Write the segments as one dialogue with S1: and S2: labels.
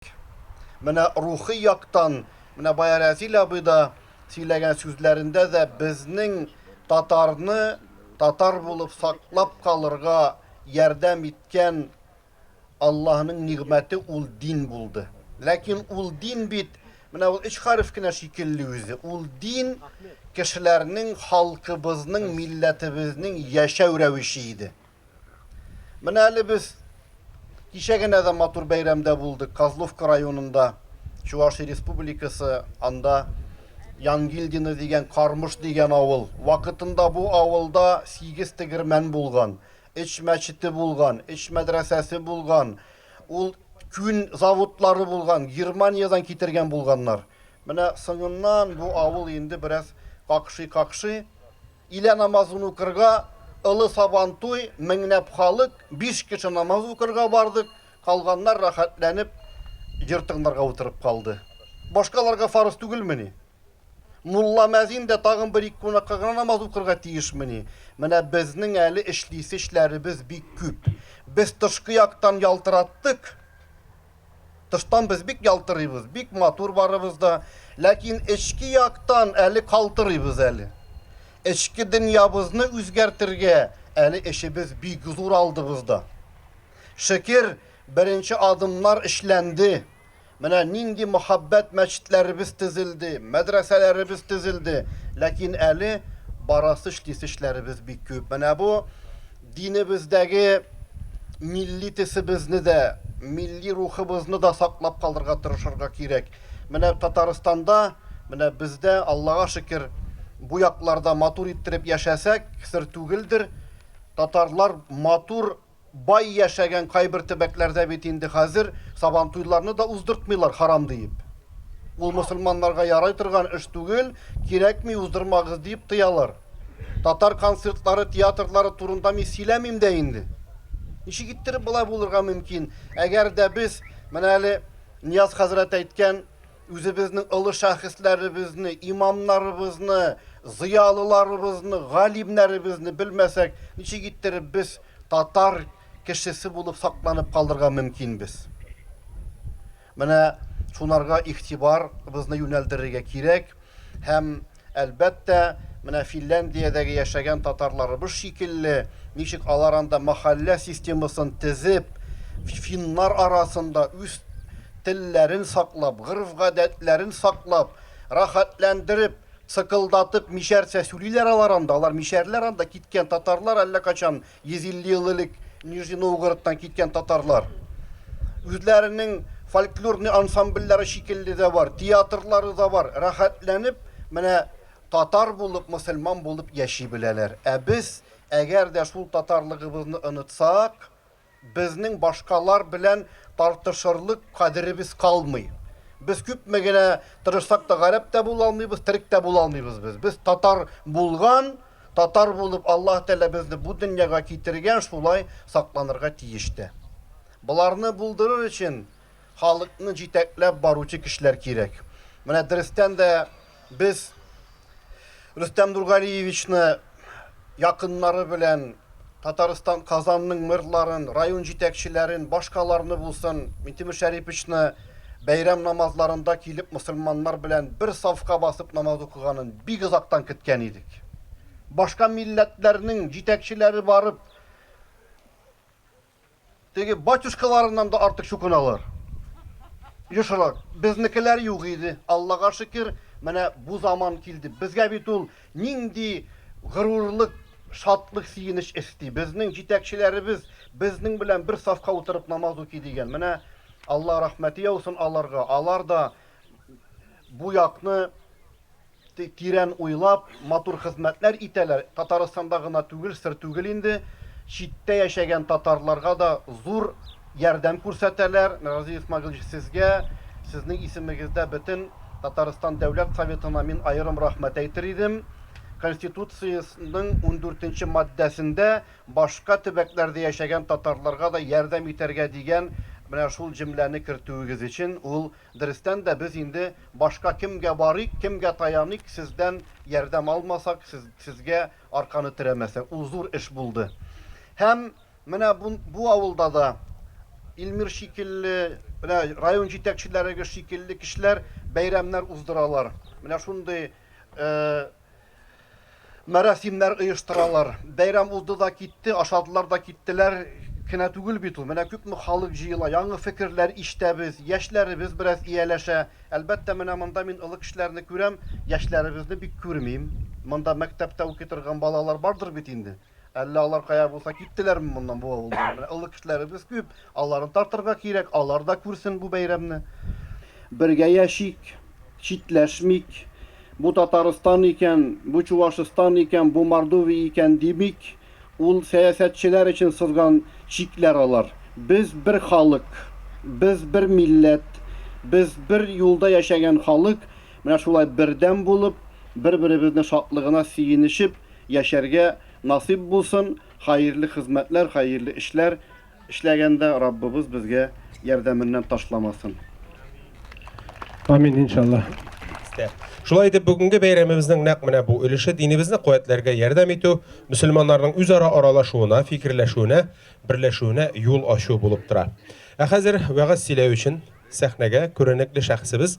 S1: кирәк. Менә рухи яктан, менә бая Рәзил абый да сөйләгән сүзләрендә дә безнең татарны татар булып саклап калырга ярдәм иткән Аллаһның нигъмәте ул дин булды. Ләкин ул дин бит менә ул өч хәреф кенә шикелле үзе. Ул дин кешеләрнең, халкыбызның, милләтебезнең яшәү рәвеше иде. Менә әле без кичә генә дә матур бәйрәмдә булдык. Козловка районында Чувашия республикасы анда Янгильдино дигән Кармыш дигән авыл. Вакытында бу авылда 8 тегермән булган, эч мәчете булган, эч мәдрәсәсе булган. Ул күн заводлары булган, Германиядән китергән булганнар. Менә соңыннан бу авыл инде бераз какшый-какшый. Илә намазын укырга, Олы Сабантуй, меңләп халык, биш кеше намаз укырга бардык, калганнар рәхәтләнеп җыр тыңларга утырып калды. Башкаларга фарыз түгелмени? Мулла-мәзин дә тагын бер-ике кунакка гына намаз укырга тиешмени? Менә безнең әле эшлисе эшләребез бик күп. Без тышкы яктан ялтыраттык, Тыштан без бик ялтырыйбыз, бик матур барыбыз да, ләкин эчке яктан әле калтырыйбыз әле. Эчке дөньябызны үзгәртергә әле эшебез бик зур алдыбызда. Шөкер, беренче адымнар эшләнде. Менә нинди мөхәббәт мәчетләребез төзелде, мәдрәсәләребез төзелде, ләкин әле барасы-эшлисе эшләребез бик күп. Менә бу Динебездәге милли тесебезне дә, милли рухыбызны да саклап калырга тырышырга кирәк. Менә Татарстанда, менә бездә, Аллага шөкер, бу якларда матур иттереп яшәсәк, сер түгелдер, татарлар матур, бай яшәгән кайбер төбәкләрдә бит инде хәзер Сабантуйларны да уздыртмыйлар, харам диеп. Ул мөселманнарга ярый торган эш түгел, кирәкми, уздырмагыз диеп тыялар. Татар концертлары, театрлары турында мин сөйләмим дә инде. Ничек иттереп болай булырга мөмкин? Әгәр дә без, менә әле Нияз хәзрәт әйткән, үзебезнең олы шәхесләребезне, имамнарыбызны, зыялыларыбызны, галимнәребезне белмәсәк, ничек иттереп без татар кешесе булып сакланып калырга мөмкин без? Менә шуларга игътибар бызны юнәлдерергә кирәк һәм, әлбәттә, менә Финляндиядәге яшәгән татарларыбыз шикелле, ничек алар анда мәхәллә системасын тезеп, финнар арасында үз телләрен саклап, гореф-гадәтләрен саклап, рәхәтләндереп, цыкылдатып, мишәрчә сүлиләр алар анда, алар мишәрләр анда, киткән татарлар әллә качан 150 ел элек Нижний Новгородтан киткән татарлар үзләренең фольклорный ансамбльләре шикелле дә бар, театрлары да бар. Рәхәтләнеп, менә татар булып, мөселман булып яши беләләр. Ә без, әгәр дә шул татарлыгыбызны онытсак, безнең башкалар белән тартышырлык кадеребез калмый. Без күпме генә тырышсак та, гарәп тә була алмыйбыз, терек тә була алмыйбыз без. Без татар булган, Татар булып Аллаһ Тәгалә безне бу дөньяга китергән, шулай сакланырга тиеш тә. Боларны булдырыр өчен халыкны җитәкләп баручы кешеләр кирәк. Менә дөрестән дә без Рөстәм Нургалиевичны якыннары белән Татарстан Казанның мэрларын, район җитәкчеләрен, башкаларны булсын, Минтимер Шәриповичны бәйрәм намазларында килеп мосылманнар белән бер сафка басып намаз укыганын бик озактан кеткән идек. Башка милләтләрнең җитәкчеләре барып, Теге батюшкаларыннан да артык чукыналар. Ешрак. Безнекеләр юк иде, Аллага шөкер, менә бу заман килде. Безгә бит ул нинди горурлык, шатлык, сөенеч өсти. Безнең җитәкчеләребез безнең белән бер сафка утырып намаз укый дигән. Менә Алла рәхмәте яусын аларга, алар да бу якны тирән уйлап, матур хезмәтләр итәләр, Татарстанда гына түгел, сер түгел инде, читтә яшәгән татарларга да зур ярдәм күрсәтәләр, Разил Исмагилович сезгә, сезнең исемегездә бөтен Татарстан Дәүләт Советына мин аерым рәхмәт әйтер идем, Конституциясенең ундүртенче маддәсендә башка төбәкләрдә яшәгән татарларга да ярдәм итәргә дигән менә шул җөмләне кертүегез өчен ул Дөрестән дә, без инде башка кемгә барыйк, кемгә таяныйк, сездән ярдәм алмасак, сез, сезгә арканы терәмәсәк, ул зур эш булды. Һәм менә бу, бу авылда да Илмир шикелле, менә район җитәкчеләре шикелле кешеләр бәйрәмнәр уздыралар. Менә шундый э, Мәрасимнәр оештыралар. Бәйрәм узды да китте, ашадылар да киттеләр кенә түгел бит ул. Менә күпме халык җыела, яңы фекерләр ишетәбез, яшьләребез бераз ияләшә. Әлбәттә, менә монда мин олы кешеләрне күрәм, яшьләребезне бик күрмим. Монда мәктәптә укый торган балалар бардыр бит инде. Әллә алар кая булса киттеләрме моннан, бу авылдан? Менә олы кешеләребез күп, аларны тартырга кирәк, алар да күрсен бу бәйрәмне. Бергә яшик, читләшмик, бу Татарстан икән, бу Чувашстан икән, бу Мордовия икән димик, ул сәясәтчеләр өчен сызган чикләр алар. Без бер халык, без бер милләт, без бер юлда яшәгән халык, менә шулай бердәм булып, бер-беребезне шатлыгына сөенешеп, Яшәргә насыйп булсын, хаерле хезмәтләр, хаерле эшләр эшләгәндә Раббыбыз безгә ярдәменнән ташламасын.
S2: Амин иншаллаһ. Истә.
S3: Шулай итеп бүгенге бәйрәмебезнең нәкъ менә бу өлеше динебезне куәтләргә ярдәм итү, мөселманнарның үзара аралашуына, фикерләшүенә, берләшүенә юл ачу булып тора. Ә хәзер вәгазь сөйләү өчен сәхнәгә күренекле шәхесебез,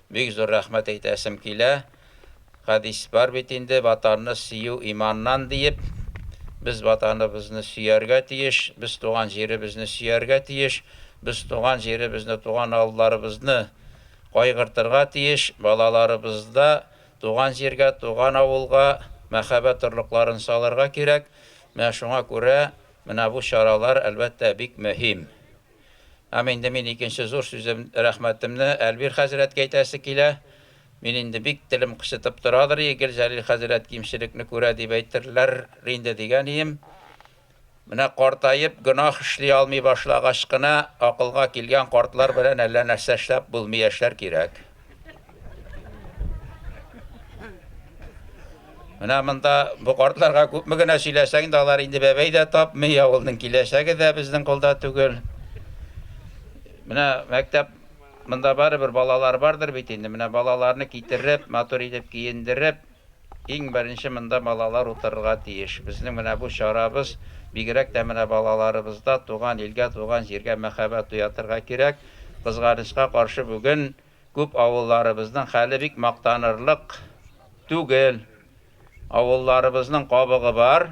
S4: Бик зур рәхмәт әйтәсем килә. Хәдис бар бит инде, Ватанны сөю иманнан, диеп. Без Ватаныбызны сөяргә тиеш, без туган җиребезне сөяргә тиеш, без туган җиребезне, туган авылларыбызны кайгыртырга тиеш, балаларыбызда туган җиргә, туган авылга мәхәббәт орлыкларын салырга кирәк. Менә шуңа күрә менә бу чаралар, әлбәттә, бик мөһим. Һәм инде мин икенче зур сүзем, рәхмәтемне Әлбир хәзрәткә әйтәсе килә. Мин инде бик телем кычытып торадыр, Игел Җәлил хәзрәт кимчелекне күрә дип әйтерләр инде дигән ием. Менә картаеп, гөнаһ эшли алмый башлагач кына, акылга килгән картлар белән әллә нәрсә эшләп булмый яшәр кирәк. Менә монда бу картларга күпме генә сөйләсәң дә, алар инде бәбәй дә тапмый, авылның киләчәге дә безнең кулда түгел. Менә мәктәп монда барыбер балалар бардыр бит инде. Менә балаларны китереп, матур итеп киендереп, Иң беренче монда балалар утырырга тиеш. Безнең менә бу чарабыз, бигрәк тә менә балаларыбызда туган илгә, туган җиргә мәхәббәт уятырга кирәк. Кызганычка каршы бүген күп авылларыбызның хәле бик мактанырлык түгел. Авылларыбызның кабыгы бар.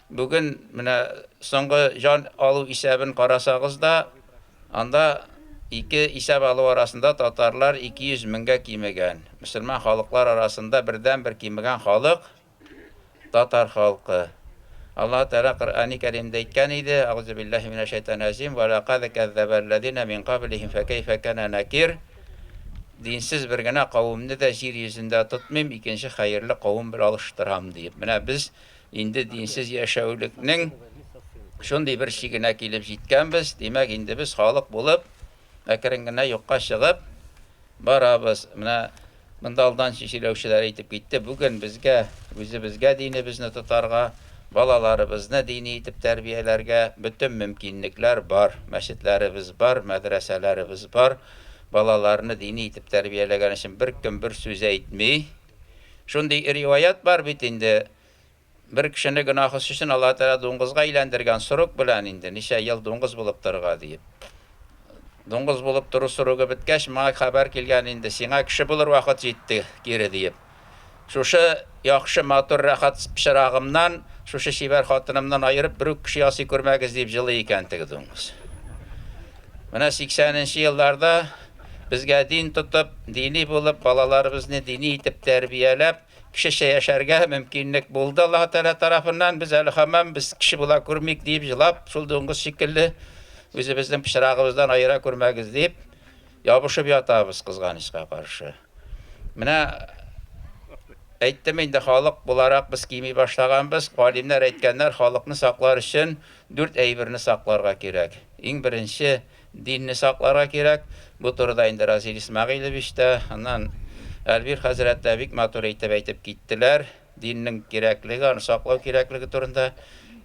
S4: Бүген менә соңгы җан алу исәбен карасагыз да, анда ике исәп алу арасында татарлар 200 меңгә кимегән. Мөселман халыклар арасында бердәнбер кимегән халык, татар халкы. Аллаһы Тәгалә Коръәни Кәримдә әйткән иде, Әгъүзүбиллаһи минәш-шәйтанир-рәҗим, Вә ләкад кәззәбәл-ләзинә мин каблихим фә кәйфә кәнә нәкир, Динсез бер генә кавемне дә җир йөзендә тотмыйм, икенче хәерле кавем белән алыштырам, диеп. Менә без Инде динсез яшәүлекнең шундый бер чигенә килеп җиткәнбез, димәк, инде без халык булып, әкрен генә юкка чыгып барабыз. Менә монда алдан сөйләүчеләр әйтеп китте, бүген безгә үзебезгә динебезне тотарга, балаларыбызны дини итеп тәрбияләргә бөтен мөмкинлекләр бар. Мәчетләребез бар, мәдрәсәләребез бар. Балаларны дини итеп тәрбияләгән өчен беркем бер сүз әйтми. Шундый риваять бар бит инде, бер кешене гөнаһысы өчен Аллаһы Тәгалә дуңгызга әйләндергән сорок белән инде ничә ел дуңгыз булып торырга диеп. Дуңгыз булып тору срогы беткәч, моңа хәбәр килгән инде, сиңа кеше булыр вакыт җитте, кире диеп. Шушы яхшы, матур, рәхәт пычрагымнан, шушы чибәр хатынымнан аерып, берүк кеше ясый күрмәгез, диеп җылый икән теге дуңгыз. Менә 80 нче елларда Безгә дин тотып, дини булып, балаларыбызны дини итеп тәрбияләп, кешечә яшәргә мөмкинлек булды Аллаһы Тәгалә тарафыннан. Без әле һаман без кеше була күрмик, диеп җылап, шул дуңгыз шикелле үзебезнең пычрагыбыздан аера күрмәгез дип, ябышып ятабыз, кызганычка каршы. Менә әйттем инде, халык буларак без кими башлаганбыз. Галимнәр әйткәннәр, халыкны саклар өчен дүрт әйберне сакларга кирәк. Иң беренче, Динне сакларга кирәк. Бу турыда инде Разил Исмәгыйлевич та, аннан Әлбир хәзрәт тә бик матур итеп әйтеп киттеләр. Диннең кирәклеге, аны саклау кирәклеге турында.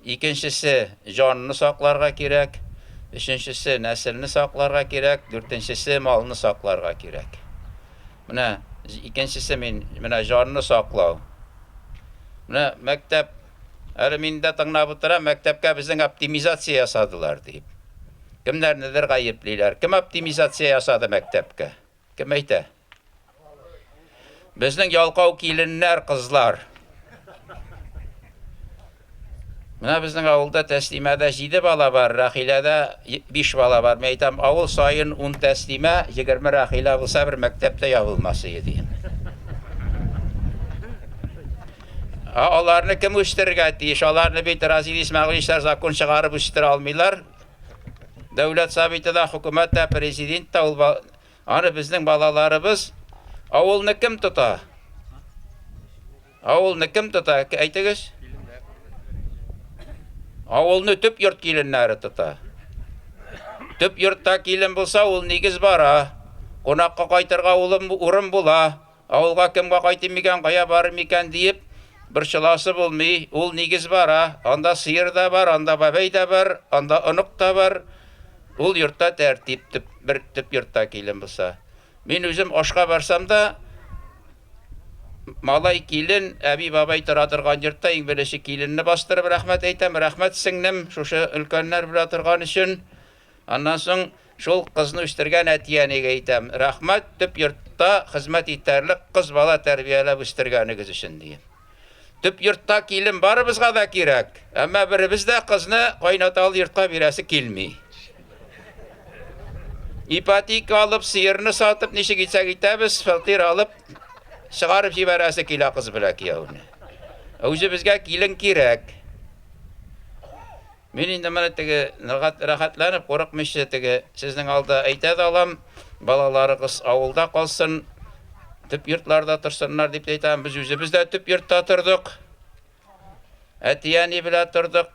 S4: Икенчесе, җанны сакларга кирәк. Өченчесе, нәселне сакларга кирәк. Дүртенчесе, малны сакларга кирәк. Менә икенчесе мин, менә җанны саклау. Менә мәктәп Әле мин дә тыңлап утырам, мәктәпкә безнең оптимизация ясадылар дип. Кемнәрнедер гаеплиләр. Кем оптимизация ясады мәктәпкә? Кем әйтә? Безнең ялкау киленнәр, кызлар. Менә безнең авылда тәслимәдә җиде бала бар, Рәхиләдә биш бала бар. Мин әйтәм, авыл саен ун тәслимә, егерме Рәхилә булса, бер мәктәптә ябылмас иде, дигән. Ә аларны кем үстерергә тиеш? Аларны бит Разил Исмәгыйлевичтар закон чыгарып үстерә алмыйлар. Дәүләт Советы да, хөкүмәт тә, президент та ул аны безнең балаларыбыз. Авылны кем тота? Авылны кем тота? Әйтегез. Авылны төп йорт киленнәре тота. Төп йортта килен булса, ул нигез бара. Кунакка кайтырга улым урын була. Авылга кемгә кайтыйм икән, кая барыйм икән диеп борчыласы булмый. Ул нигез бара. Анда сыер да бар, анда бабәй дә бар, анда онык та бар. Ул йортта тәртип, төп бер төп йортта килен булса. Мин үзем ашка барсам да, малай, килен, әби-бабай тора торган йортта иң беренче киленне бастырып рәхмәт әйтәм. Рәхмәт, сеңлем, шушы өлкәннәр белә торган өчен. Аннан соң шул кызны үстергән әти-әнигә әйтәм, рәхмәт, төп йортта хезмәт итәрлек кыз бала тәрбияләп үстергәнегез өчен, дием. Төп йортта килен барыбызга да кирәк, әмма беребез дә кызны кайнаталы йортка бирәсе килми. Ипотека алып, сыерны сатып, ничек итсәк итәбез, фатир алып, чыгарып җибәрәсе килә кыз белән кияүне. Ә үзебезгә килен кирәк. Мин инде моны теге ныгат рәхәтләнеп курыкмыйча теге сезнең алда әйтә дә алам, балаларыгыз авылда калсын, төп йортларда торсыннар дип тә әйтәм, без үзебез дә төп йортта тордык, әти-әни белән тордык,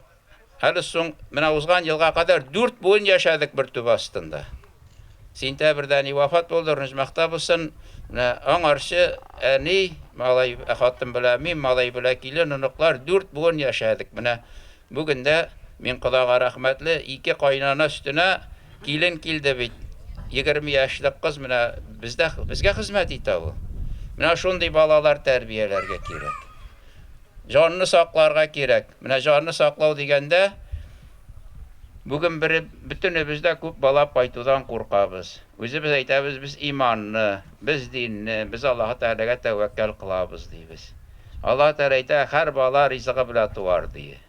S4: әле соң менә узган елга кадәр дүрт буын яшәдек бер түбә астында. Сентябрьдә әни вафат булды, рнҗмахта булсын, менә аңарчы әни, малай, хатын белән мин, малай белән килен, оныклар, дүрт буын яшәдек, менә Бүген дә мин кодага рәхмәтле, ике кайнана өстенә килен килде бит. Егерме яшьлек кыз менә бездә, безгә хезмәт итә ул. Менә шундый балалар тәрбияләргә кирәк. Җанны сакларга кирәк. Менә җанны саклау дигәндә, бүген бер, бөтенебез дә күп бала кайтудан куркабыз. Үзебез әйтәбез, без иманлы. Без динне, без Аллаһы Тәгаләгә тәвәккәл кылабыз, дибез. Аллаһы Тәгалә әйтә, Һәр бала ризыгы белән туар, дие.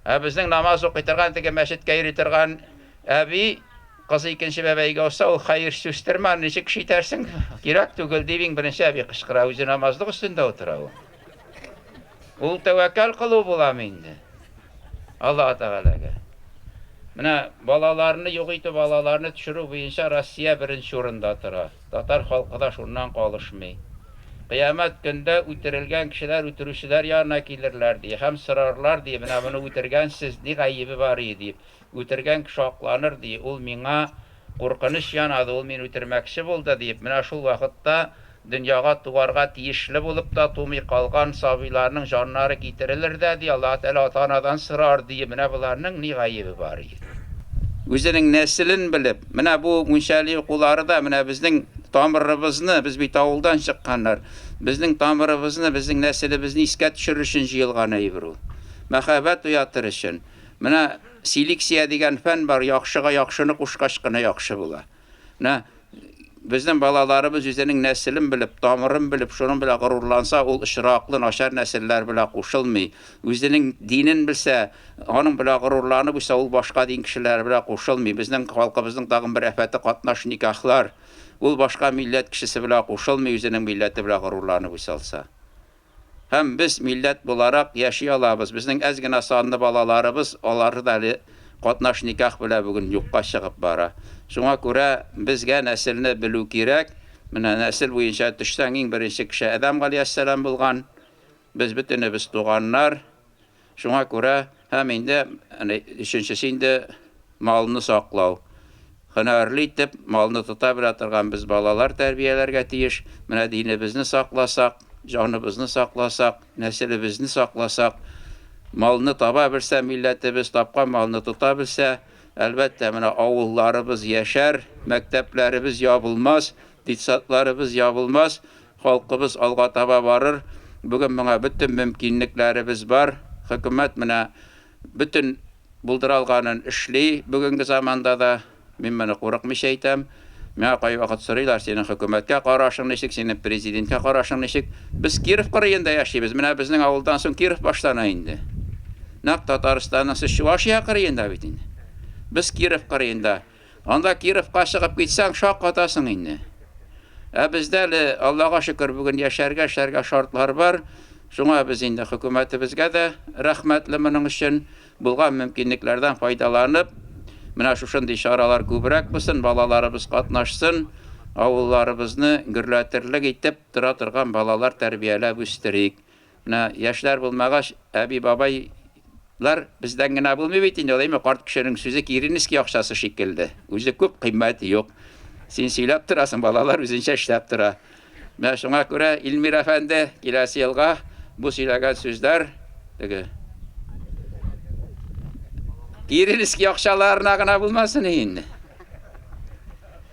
S4: Ә безнең намаз укый торган, теге мәчеткә йөри торган әби, кызы икенче бәбәйгә узса, ул хәер чүстермә, аны ничек шитәрсең, кирәк түгел, дип иң беренче әби кычкыра, үзе намазлык өстендә утыра ул. Ул тәвәккәл кылу буламы инде? Аллаһ Тәгаләгә. Менә балаларны юк итү, балаларны төшерү буенча Россия беренче урында тора. Татар халкы да шуннан калышмый. Кыямәт көндә үтерелгән кешеләр үтерүчеләр янына килерләр, ди, һәм сорарлар, ди, менә моны үтергән сез, ни гаебе бар иде, дип. Үтергән кеше акланыр, ди, ул миңа куркыныч янады, ул мине үтермәкче булды, диеп, менә шул вакытта дөньяга туарга тиешле булып та тумый калган сабыйларның җаннары китерелер дә, ди, Аллаһы Тәгалә ата-анадан сорар, ди, менә боларның ни гаебе бар икән? Үзенең нәселен белеп, менә бу мунчали укулары да менә безнең тамырыбызны, без бит авылдан чыкканнар, безнең тамырыбызны, безнең нәселебезне искә төшерер өчен җыелган әйбер ул. Мәхәббәт уятыр өчен. Менә селексия дигән фән бар, яхшыга яхшыны кушкач кына яхшы була. Менә безнең балаларыбыз үзенең нәселен белеп, тамырын белеп, шуның белән горурланса, ул очраклы начар нәселләр белән кушылмый. Үзенең динен белсә, аның белән горурланып үсә, ул башка дин кешеләре белән кушылмый. Безнең халкыбызның тагын бер афәте катнаш никахлар. Ул башка милләт кешесе белән кушылмый, үзенең милләте белән горурланып үсә алса. Һәм без милләт буларак яши алабыз, безнең әз генә санлы балаларыбыз, алары да әле катнаш никах белән бүген юкка чыгып бара. Шуңа күрә безгә нәселне белү кирәк. Менә нәсел буенча төшсәң, иң беренче кеше Адәм галиәссәлам булган. Без бөтенебез туганнар. Шуңа күрә һәм инде өченчесе инде малны саклау. Һөнәрле итеп малны тота белә торган без балалар тәрбияләргә тиеш. Менә динебезне сакласак, җаныбызны сакласак, нәселебезне сакласак, малны таба белсә милләтебез, тапкан малны тота белсә, әлбәттә, менә авылларыбыз яшәр, мәктәпләребез ябылмас, детсадларыбыз ябылмас, Халкыбыз алга таба барыр. Бүген моңа бөтен мөмкинлекләребез бар. Хөкүмәт менә бөтен булдыра алганын эшли бүгенге заманда да. Мин моны курыкмыйча әйтәм. Миңа кайвакыт сорыйлар, синең хөкүмәткә карашың ничек, синең президенткә карашың ничек? Без Киров кырыенда яшибез, менә безнең авылдан соң Киров башлана инде. Нәкъ Татарстанның сез Чувашия кырыенда бит инде. Без Киров кырыенда. Анда Кировка чыгып китсәң, шаккатасың инде. Ә бездә әле, Аллага шөкер, бүген яшәргә, эшләргә шартлар бар. Шуңа без инде хөкүмәтебезгә дә рәхмәтле моның өчен. Булган мөмкинлекләрдән файдаланып, менә шушындый чаралар күбрәк булсын, балаларыбыз катнашсын, авылларыбызны гөрләтерлек итеп тора торган балалар тәрбияләп үстерик. Менә яшьләр булмагач, әби-бабайлар бездән генә булмый бит инде ул, әйме, карт кешенең сүзе Киренеский акчасы шикелле, үзе күп, кыйммәте юк. Син сөйләп торасың, балалар үзенчә эшләп тора. Менә шуңа күрә, Илмир әфәнде, киләсе елга бу сөйләгән сүзләр теге Киренеский акчаларына гына булмасын инде.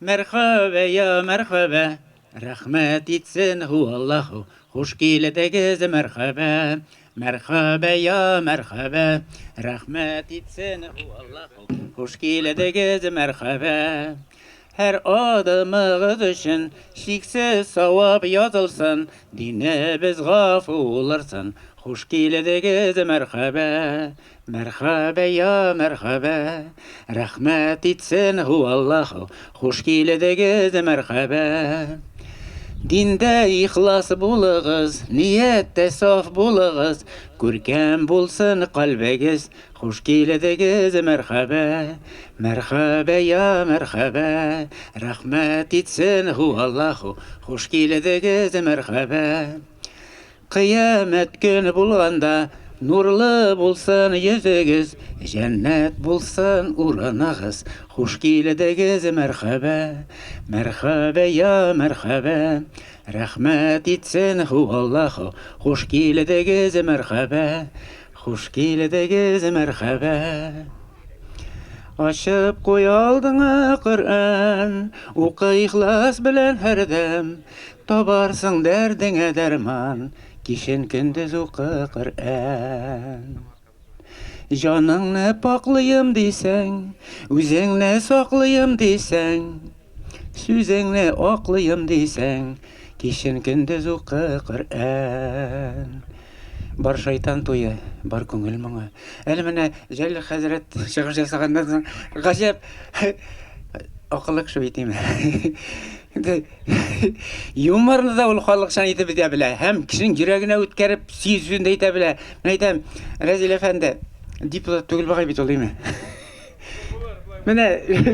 S5: Мәрхәбә я мәрхәбә, рәхмәт итсен һу Аллаһу, хуш килдегез мәрхәбә, Мәрхәбә я мәрхәбә, рәхмәт итсен һу Аллаһу, хуш килдегез мәрхәбә. Һәр адымыгыз өчен чиксез савап язылсын, динебез гафу улырсын, хуш килдегез мәрхәбә. Мәрхәбә я мәрхәбә, рәхмәт итсен һу Аллаһу, хуш килдегез мәрхәбә. Диндә ихлас булыгыз, нияттә саф булыгыз, күркәм булсын калбегез, хуш килдегез мәрхәбә. Мәрхәбә я мәрхәбә, рәхмәт итсен һу Аллаһу, хуш килдегез мәрхәбә. Кыямәт көне булганда, Нурлы булсын йөзегез, Җәннәт булсын урыныгыз, Хуш килдегез, мәрхәбә! Мәрхәбә, йа мәрхәбә! Рәхмәт итсен һу Аллаһу, Хуш килдегез, мәрхәбә! Хуш килдегез, мәрхәбә! Ачып куй алдыңа Коръән, Укы ихлас белән һәрдәм, Табарсың дәрдеңә дәрман, Кичен-көндез укы Коръән. Җаныңны пакълыйм дисәң, Үзеңне саклыйм дисәң, Сүзеңне аклыйм дисәң, кичен көндез укы Коръән. Бар шайтан туе, бар күңел моңы. Әле менә Җәлил хәзрәт чыгыш ясаганнан соң, гаҗәп акыллы кеше бит име. Инде юморны да ул халыкчан итеп әйтә белә һәм кешенең йөрәгенә үткәреп сөю сүзен дә әйтә белә. Мин әйтәм, Рәзил әфәнде, депутат түгел бугай бит ул, име? Менә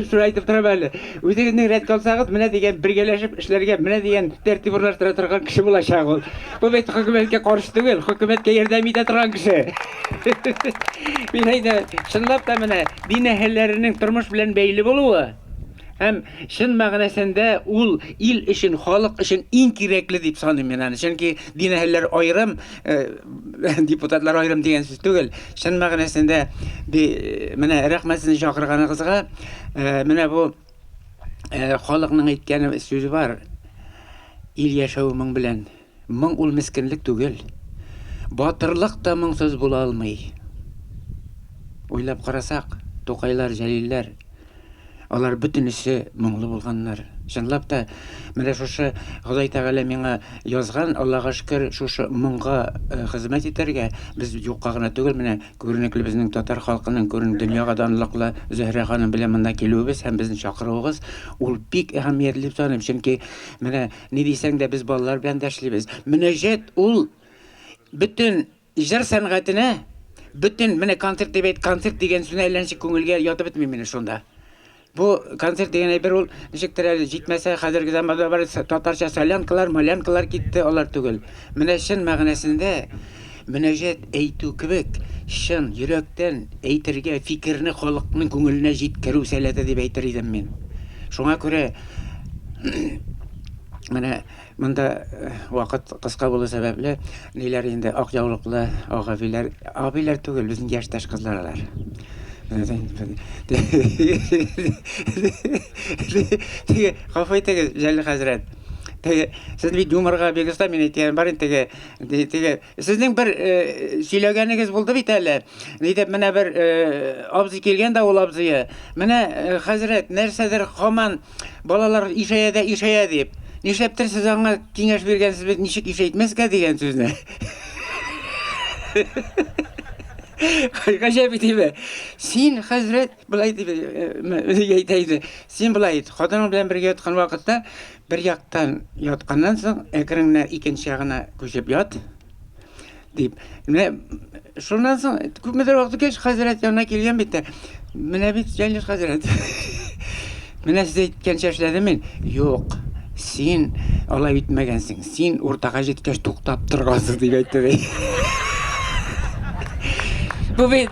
S5: шуны әйтеп торам әле. Үзегезнең рәт калсагыз, менә дигән бергәләшеп эшләргә, менә дигән тәртип урнаштыра торган кеше булачак ул. Бу бит хөкүмәткә каршы түгел, хөкүмәткә ярдәм итә торган кеше. Мин әйтәм, чынлап та менә дин әһелләренең тормыш белән бәйле булуы һәм чын мәгънәсендә ул ил өчен, халык өчен иң кирәкле дип саныйм мин аны. Чөнки дин әһелләре аерым Э, депутатлар аерым дигән сүз түгел чын мәгънәсендә э, менә рәхмәт сезне чакырганыгызга э, менә бу халыкның әйткән сүзе бар ил яшәве моң белән моң ул мескенлек түгел батырлык та моңсыз була алмый уйлап карасак тукайлар җәлилләр Алар бөтенесе моңлы булганнар. Чынлап та, менә шушы Ходай Тәгалә миңа язган, Аллага шөкер, шушы моңга э, хезмәт итәргә без юкка гына түгел, менә күренекле безнең татар халкының күрен дөньяга данлыклы Зөһрә ханым белән монда килүебез һәм безне чакыруыгыз, ул бик әһәмиятле дип саныйм, чөнки менә ни дисәң дә без балалар белән дә эшлибез. Мөнәҗәт ул бөтен Җыр сәнгатенә бөтен, менә концерт дип әйт, концерт дигән сүзне әллә ничек күңелгә ятып бетми минем шунда. Бу концерт дигән әйбер ул, ничектер әле җитмәсә, хәзерге заманда бар татарча солянкалар, малянкалар китте, алар түгел. Менә чын мәгънәсендә мөнәҗәт әйтү кебек, чын йөрәктән әйтергә, фикерне халыкның күңеленә җиткерү сәләте дип әйтер идем мин. Шуңа күрә менә Монда вакыт кыска булу сәбәпле, ниләр инде, ак яулыклы агабиләр, абиләр түгел, безнең яшьтәш кызлар алар. Теге, гафу итегез, Җәлил хәзрәт. Теге, сез бит юморга бик оста, мин әйтәм, бар инде теге, теге, Сезнең бер э, сөйләгәнегез булды бит әле. Нидеп менә бер э, абзый килгән дә ул абзые. Менә э, хәзрәт нәрсәдер хаман балалар ишәя дә ишәя дип. Нишләптер сез аңа киңәш биргәнсез бит, ничек ишәйтмәскә дигән сүзне. Гаҗәп итеме? Син хәзрәт, былай дип әйтә иде. Син былай ит, хатының белән бергә яткан вакытта Бер яктан ятканнан соң, әкренләп икенче ягына күчеп ят, дип. Менә шуннан соң күпмедер вакыт үткәч, хәзрәт янына килгән бит тә, менә бит Җәлил хәзрәт. Менә сез әйткәнчә эшләдем мин. Юк, син алай итмәгәнсең, син уртага җиткәч туктап торгансың, дип әйтте ди. Бу бит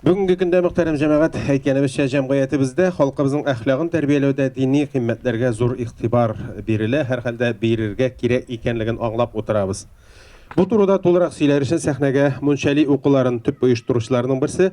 S3: Бүгенге көндә мөхтәрәм җәмәгать әйткәнебезчә җәмгыятебездә халкыбызның әхлагын тәрбияләүдә дини кыйммәтләргә зур игътибар бирелә, һәрхәлдә бирергә кирәк икәнлеген аңлап утырабыз. Бу турыда тулырак сөйләр өчен сәхнәгә Мунчали укуларын төп оештыручыларның берсе,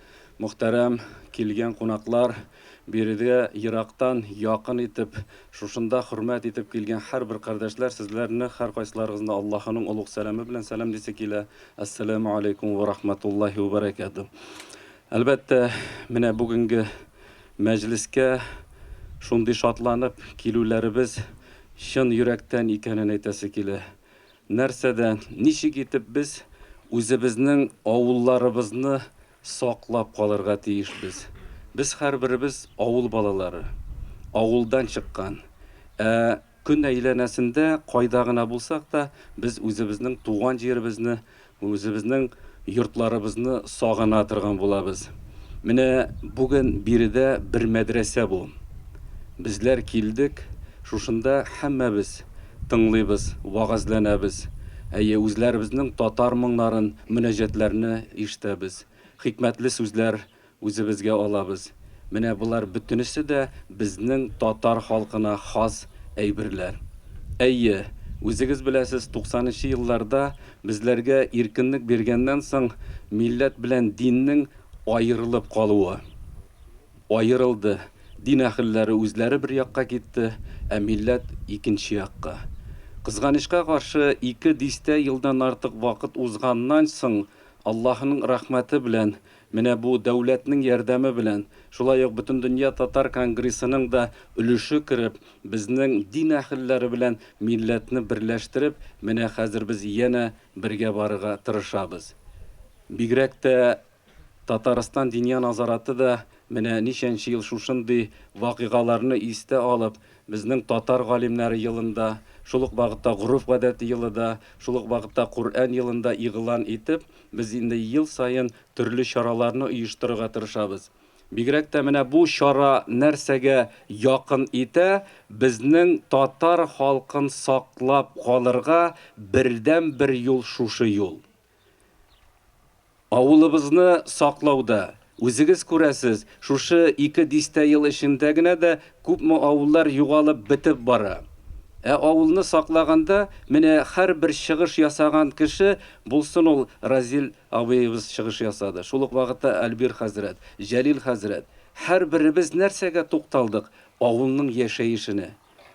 S6: Мөхтәрәм килгән кунаклар, биредә ерактан якын итеп, шушында хөрмәт итеп килгән һәрбер кардәшләр, сезләрне, һәркайсыларыгызны Аллаһының олуг сәламе белән сәлам дисе килә, Әссәләмү аләйкүм вә рахмәтуллаһи вә бәрәкәтү. Әлбәттә, менә бүгенге мәҗлескә шундый шатланып килүләребез чын йөрәктән икәнен әйтәсе килә. Нәрсәдә, ничек итеп без үзебезнең авылларыбызны саклап калырга тиешбез? Без һәрберебез авыл балалары, авылдан чыккан. Ә көн әйләнәсендә кайда гына булсак та, без үзебезнең туган җиребезне Үзебезнең йортларыбызны сагына торган булабыз. Менә бүген биредә бер мәдрәсә бу. Безләр килдек, шушында һәммәбез тыңлыйбыз, вәгазьләнәбез. Әйе, үзләребезнең татар моңнарын, мөнәҗәтләрне ишетәбез. Хикмәтле сүзләр Үзебезгә алабыз. Менә болар бөтенесе дә безнең татар халкына хас әйберләр. Әйе, үзегез беләсез, туксанынчы елларда безләргә иркенлек биргәннән соң милләт белән диннең аерылып калуы. Аерылды. Дин әхелләре үзләре бер якка китте, ә милләт икенче якка. Кызганычка каршы, ике дистә елдан артык вакыт узганнан соң Аллаһының рәхмәте белән Менә бу дәүләтнең ярдәме белән, шулай ук Бөтендөнья татар конгрессының да өлеше кереп, безнең дин әһелләре белән милләтне берләштереп, менә хәзер без янә бергә барырга тырышабыз. Бигрәк тә Татарстан Диния назараты да менә ничәнче ел шушындый вакыйгаларны истә алып, безнең Татар галимнәре елын да, шул ук вакытта Гореф-гадәте елы да, шул ук вакытта Коръән елын да игълан итеп, Без инде ел саен төрле чараларны оештырырга тырышабыз. Бигрәк тә менә бу чара нәрсәгә якын итә, безнең татар халкын саклап калырга бердәнбер юл шушы юл. Авылыбызны саклауда, Үзегез күрәсез, шушы ике дистә ел эчендә генә дә күпме авыллар югалып, бетеп бара. Ә авылны саклаганда, менә һәрбер чыгыш ясаган кеше, булсын ул Разил абыебыз чыгыш ясады, шул ук вакытта Альбир хәзрәт, Җәлил хәзрәт, һәрберебез нәрсәгә тукталдык, авылның яшәешенә,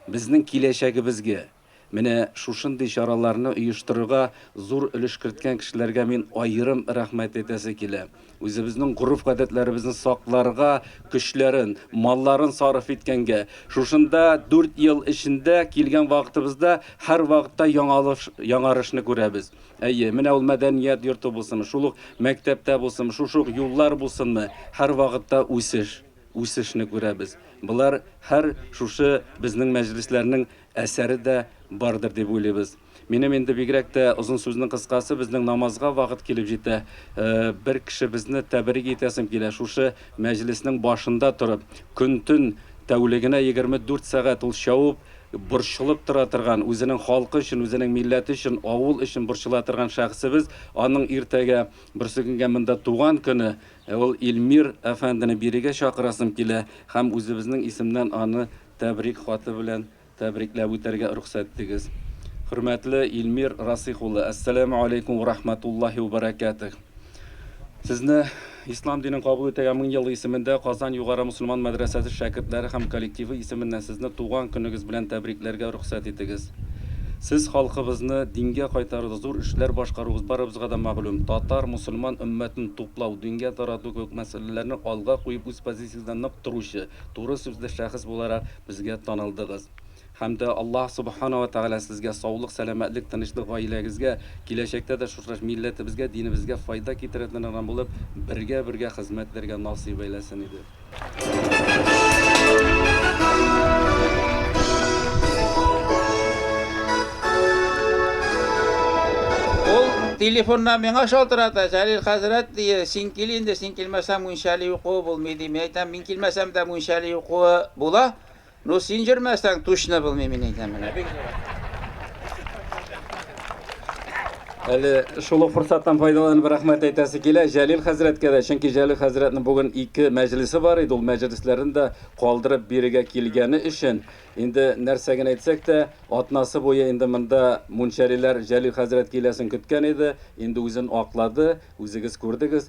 S6: безнең киләчәгебезгә. Менә шушындый чараларны оештырырга зур өлеш керткән кешеләргә мин аерым рәхмәт әйтәсе килә. Үзебезнең гореф-гадәтләребезне сакларга көчләрен, малларын сарыф иткәнгә, шушында дүрт ел эчендә килгән вакытыбызда һәрвакытта яңалыш, яңарышны күрәбез. Әйе, менә ул мәдәният йорты булсынмы, шул ук мәктәптә булсынмы, шушы ук юллар булсынмы, һәрвакытта үсеш, үсешне күрәбез. Болар һәр шушы безнең мәҗлесләрнең әсәре дә бардыр дип уйлыйбыз. Минем инде бигрәк тә озын сүзнең кыскасы, безнең намазга вакыт килеп җитә. Бер кешебезне тәбрик итәсем килә, шушы мәҗлеснең башында торып, көн-төн, тәүлегенә 24 сәгать ул чавып, борчылып тора торган, үзенең халкы өчен, үзенең милләте өчен, авыл өчен борчыла торган шәхесебез, аның иртәгә, берсекөнгә монда туган көне, ул Илмир әфәндене бирегә чакырасым килә һәм үзебезнең исемнән аны Тәбрик хаты белән тәбрикләп үтәргә рөхсәт итегез. Хөрмәтле Илмир Расыйх улы, Әссәләмү алейкүм вә рахмәтуллаһи вә бәрәкәтүһ! Сезне Ислам динен кабул итәргә мең ел исемендә Казан югары мөселман мәдрәсәсе шәкертләре һәм коллективы исеменнән сезне туган көнегез белән тәбрикләргә рөхсәт итегез. Сез халкыбызны дингә кайтаруда зур эшләр башкаруыгыз барыбызга да мәгълүм. Татар, мөселман өммәтен туплау, дингә тарату кебек мәсьәләләрне алга куеп үз позициясендә нык торучы, Туры сүзле шәхес буларак безгә танылдыгыз. Һәм дә Аллаһ Субхана ва Тәгалә Сезгә саулык, сәламәтлек, тынычлык, гаиләгезгә, киләчәктә дә шушы милләтебезгә, динебезгә файда китерәтен адам булып, бергә-бергә хезмәт итәргә насыйп әйләсен иде.
S4: Ул телефоннан миңа шалтырата, Җәлил хәзрәт, дие, син кил инде, син килмәсәң мунчали укуы булмый, ди. Мин әйтәм, мин. Килмәсәм дә мунчали укуы була, ну син җөрмәсәң тучны булмый мин әйтәм менә бик зур
S6: Әле шул ук форсаттан файдаланып рәхмәт әйтәсе килә Җәлил хәзрәткә дә, чөнки Җәлил хәзрәтнең бүген ике мәҗлесе бар иде, ул мәҗлесләрен дә калдырып бирегә килгәне өчен. Инде нәрсә генә әйтсәк тә, атнасы буе инде монда мунчалиләр Җәлил хәзрәт киләсен көткән иде, инде үзен аклады, үзегез күрдегез.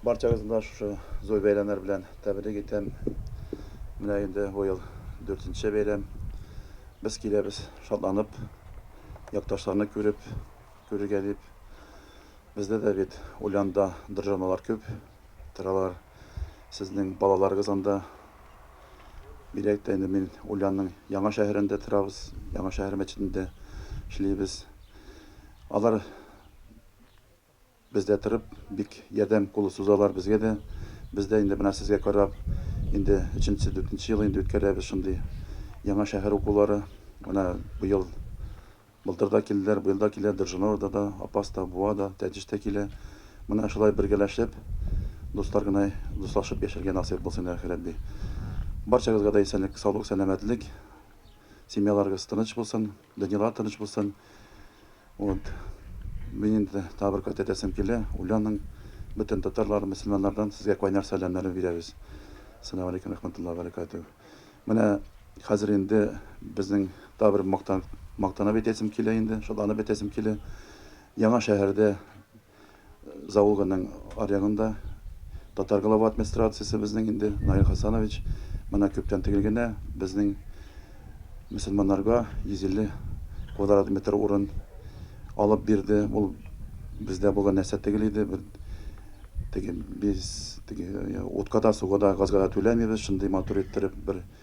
S7: Барчагызны да шушы зур бәйрәмнәр белән тәбрик итәм. Менә инде бу ел дүртенче бәйрәм. Без киләбез шатланып, якташларны күреп, күрергә дип. Бездә дә бит Ульянда дыржаналар күп торалар. Сезнең балаларыгыз анда. Бигрәк тә инде мин Ульянның Яңа шәһәрендә торабыз, Яңа шәһәр мәчетендә эшлибез. Алар Бездә торып бик ярдәм кулы сузалар безгә дә. Без дә инде менә сезгә карап, инде өченче, дүртенче ел инде үткәрәбез шундый Яңа шәһәр укулары. Менә быел, былтыр да килделәр, быел да килә, Держинорда да, Апас та, Буа да, Тәтеш тә килә. Менә шулай бергәләшеп, дуслар гына дуслашып яшәргә насыйп булсын, илаһи Рәбби. Барчагызга да исәнлек, саулык, сәламәтлек, семьяларыгыз тыныч булсын. Данилар тыныч булсын. Вот. Мин инде тагы бер кат әйтәсем килә, Уляның бөтен татарлар, мөселманнардан сезгә кайнар сәламнәрне бирәбез. Салам алейкум рахматуллаһи ва баракатуһ. Менә хәзер инде безнең тагы бер мактан, мактанып әйтәсем килә инде, шатланып әйтәсем килә. Яңа шәһәрдә Заулганың аръягында татар глава администрациясе безнең инде, Наил Хасанович, менә күптән тегел генә безнең мөселманнарга 150 квадрат метр урын алып бирде. Ул бездә булган нәрсә тегел иде, бер теге без теге утка да, суга да, газга да түләмибез, шундый матур иттереп бер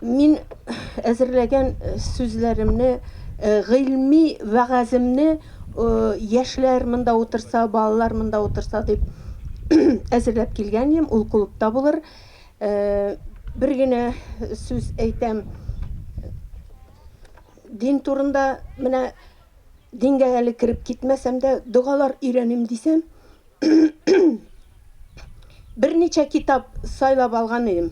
S8: Мин әзерләгән сүзләремне, гыйльми вәгаземне яшьләр монда утырса, балалар монда утырса дип әзерләп килгән идем, ул клубта булыр. Бер генә сүз әйтәм. Дин турында менә дингә әле кереп китмәсәм дә, догалар өйрәним дисәм, Берничә китап сайлап алган идем.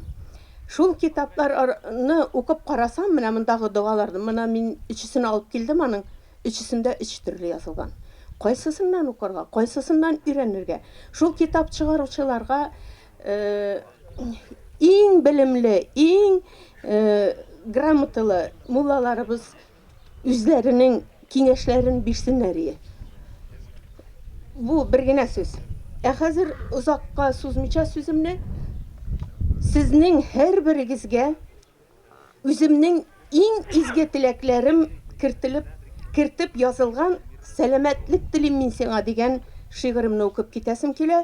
S8: Шул китаплар ар ны укып карасам, менә мондагы догаларны, мына мин өчесен алып килдем аның, өчесендә өч төрле язылган. Кайсысыннан укырга, кайсысыннан өйрәнергә? Шул китап чыгаручыларга иң белемле, иң грамоталы муллаларыбыз үзләренең киңәшләрен бирсеннәр ие. Бу бер генә сүз. Ә хәзер озакка сузмыйча сүземне сезнең һәрберегезгә үземнең иң изге теләкләрем кертелеп кертеп язылган Сәламәтлек телим мин сиңа дигән шигыремне укып китәсем килә.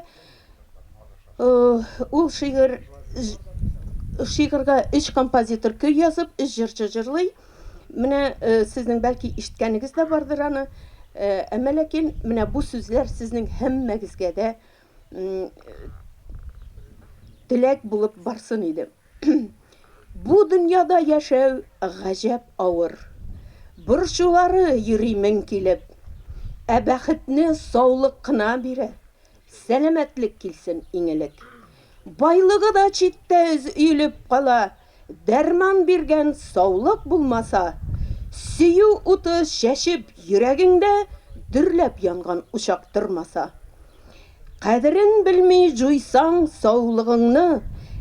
S8: Ул шигырь шигырьгә өч композитор көй язып, өч җырчы җырлый. Менә сезнең бәлки ишеткәнегез дә бардыр аны. Әмма ләкин менә бу сүзләр сезнең һәммәгезгә дә теләк булып барсын иде. Бу дөньяда яшәү гаҗәп авыр. Борчулары йөри мең килеп. Ә бәхетне саулык кына бирә. Сәламәтлек килсен иң элек. Байлыгы да читтә өз өелеп кала, дәрман биргән саулык булмаса, сөю уты чәчеп йөрәгеңдә дөрләп янган учак тормаса. Кадерен белми җуйсаң саулыгыңны,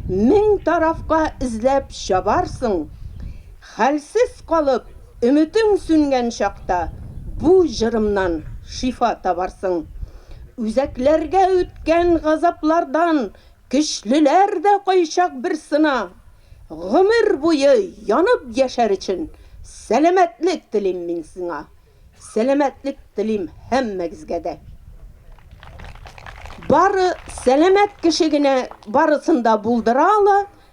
S8: мең тарафка эзләп чабарсың. Хәлсез калып, өметең сүнгән чакта бу җырымнан шифа табарсың. Үзәкләргә үткән газаплардан көчлеләр дә кайчак бер сына. Гомер буе янып яшәр өчен сәламәтлек телим мин сиңа. Сәламәтлек телим һәммәгезгә дә. Бары сәламәт кеше генә барысын да булдыра ала,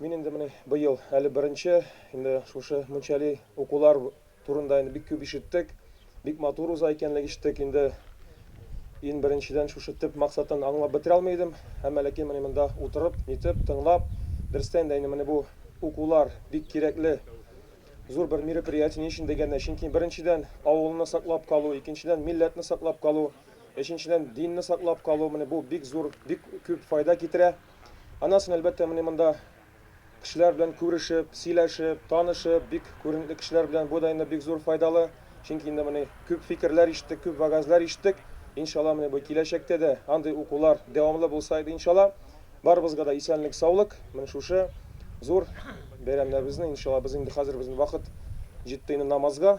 S9: Мин инде менә быел әле беренче, инде шушы мунчали укулар турында инде бик күп ишеттек, бик матур уза икәнлек ишеттек, инде ин беренчедән шушы төп максатын аңлап бетерә алмый идем, әмма ләкин менә монда утырып, нитеп, тыңлап, дөрестән дә инде менә бу укулар бик кирәкле, зур бер мероприятие, ни өчен дигәндә, чөнки беренчедән авылны саклап калу, икенчедән милләтне саклап калу, өченчедән динне саклап калу, менә бу бик зур, бик күп файда китерә. Анасын, әлбәттә, менә монда кешеләр белән күрешеп, сөйләшеп, танышып, бик күренекле кешеләр белән бу да инде бик зур файдалы. Чөнки инде менә күп фикерләр ишеттек, күп вәгазьләр ишеттек. Иншалла, менә бу киләчәктә дә андый укулар дәвамлы булса иде, иншалла. Барыбызга да исәнлек, саулык. Менә шушы зур бәйрәмнәребезне, иншалла, без инде хәзер безнең вакыт җитте инде намазга.